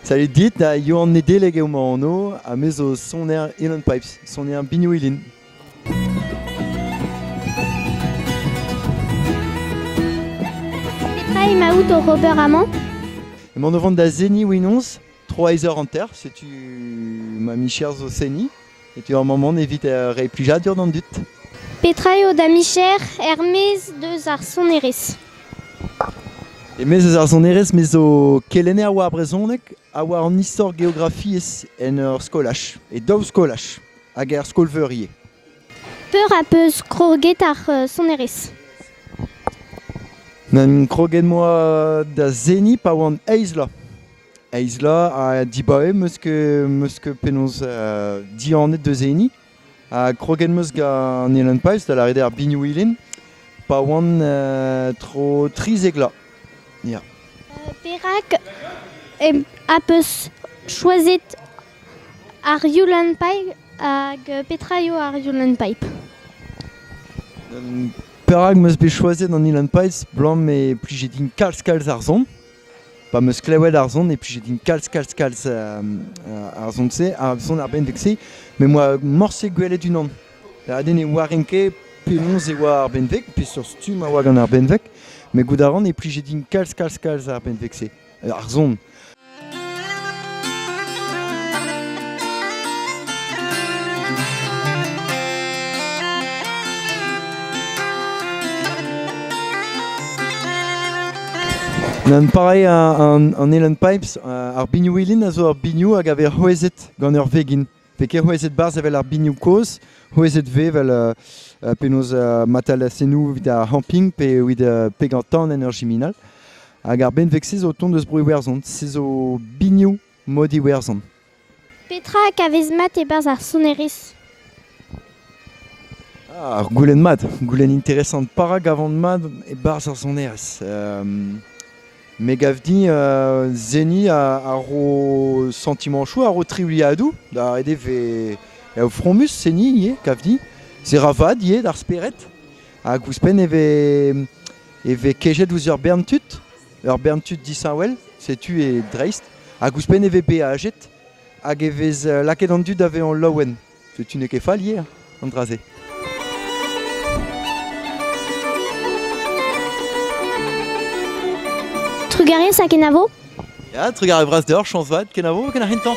Salut dit, da Yoann Nedeleg eo ma anv, ha me zo soner Elan Pipes, soner binioù ilin. Petra emaout oc'h ober amañ Emaon o vont da seniñ Winoz, 3 heures hanter, setu ma micher zo seniñ. E teu ar mamant evit reiñ plijadur d'an dud. Petra eo da micher er-maez deus ar sonerezh? E-maez eus ar sonerezh me zo kelenner war brezhoneg ha war an istor geografiezh en ur skolaj, e daou skolaj hag er skol-veur ivez. Peur a peus kroget ar sonerezh? N'em kroget moa da seniñ pa oan eizh bloaz. Aizla ha dibaoe meus ket meus ket penaos uh, dihanet deus e hini. Ha kroget meus gant Ellen Pais da lâret ar Binouilin pa oan uh, tro trizek la. Yeah. Uh, perak em a peus choisit ar Yulen Pipe hag petra eo ar Yulen Pipe? Perak meus bet choisit an Yulen Pipe, blam e plije din kalz kalz ar son. Pa 'm eus klevet ar son, e plije din kalz-kalz-kalz uh, ar son-se, ar son ar benveg-se, met moa morse gwelet unan. Da ne oaren ket penaos e oa ar benveg, peseurt stumm a oa gant ar benveg, met goût a ran e plije din kalz-kalz-kalz ar benveg-se, ar son. Pareil an Elan Pipes, ar bignoù-ilin a zo ur bignoù hag a vez c'hwezhet gant ur vegin. Pe ket c'hwezhet barzh evel ar bignoù kozh, c'hwezhet vez evel penaos matalasennoù evit ar c'hamping pe evit pegañ tan en ur jiminal. Hag ar benveg-se zo tont eus Bro-Iwerzhon. Se zo bignoù mod Iwerzhon. Petra a vez mat e-barzh ar sonerezh? Ah, ur goulenn mat, goulenn interesant. Pa ra gavan mat e-barzh ar sonerezh? me gav din uh, Zeni a, a ro sentimanchoù, a ro triwliadoù da ret e ve e fromus Zeni ivez, gav din. Se ra vad ivez d'ar spered. Hag ouzhpenn e ve e ve kejet ouzh ur bern tud. Ur bern tud disheñvel, setu e dreist, hag ouzhpenn e vez beajet hag e vez euh, lakaet an dud da vezañ laouen. Setu n'eo ket fallier an dra-se. Trugarez ha kenavo Ya, trugarez vras deoc'h, chañs vat, kenavo, ken ar c'hintañ.